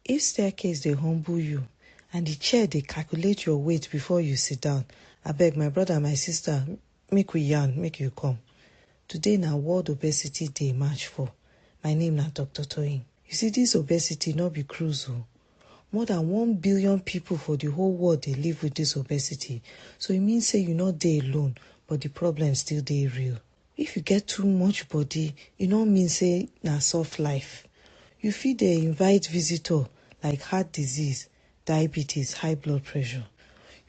If staircase dey humble you and the chair dey calculate your weight before you sit down, abeg my brother my sister make we yarn make you come. Today na world obesity day march for. My name na Doctor Toyin. You see this obesity no be cruise o. More than one billion people for the whole world dey live with this obesity so e mean say you no dey alone but the problem still dey real. If you get too much body, e no mean say na soft life. You fit dey invite visitor like heart disease, diabetes, high blood pressure.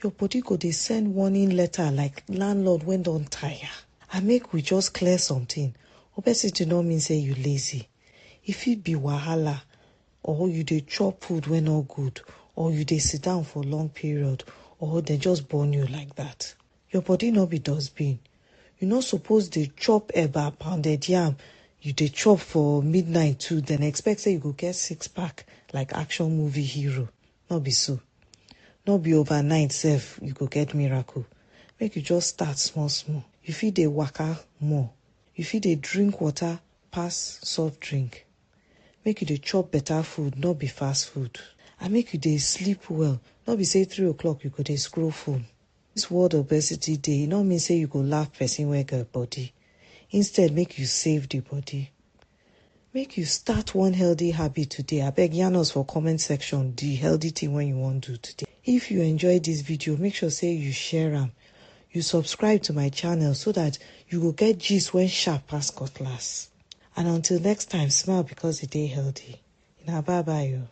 Your body go dey send warning letter like landlord wey don tire. And make we just clear something, obesity no mean say you lazy. E fit be wahala or you dey chop food wey no good or you dey sit down for long period or dem just born you like that. Your body no be dustbin. You no suppose dey chop eba, pounded yam, you dey chop for midnight too then expect say you go get six pack like action movie hero. No be so. No be overnight sef you go get miracle. Make you just start small small. You fit dey waka more. You fit dey drink water pass soft drink. Make you dey chop better food no be fast food. And make you dey sleep well. No be say three o'clock you go dey scroll phone. This word obesity dey e no mean say you go laugh person wey get body, instead make you save the body. Make you start one healthy habit today, abeg yarn us for comment section the healthy thing wey you wan do today. If you enjoy this video, make sure say you share am, you subscribe to my channel so that you go get gist wey sharp pass cutlass. And until next time, smile because e dey healthy. Una bye bye o.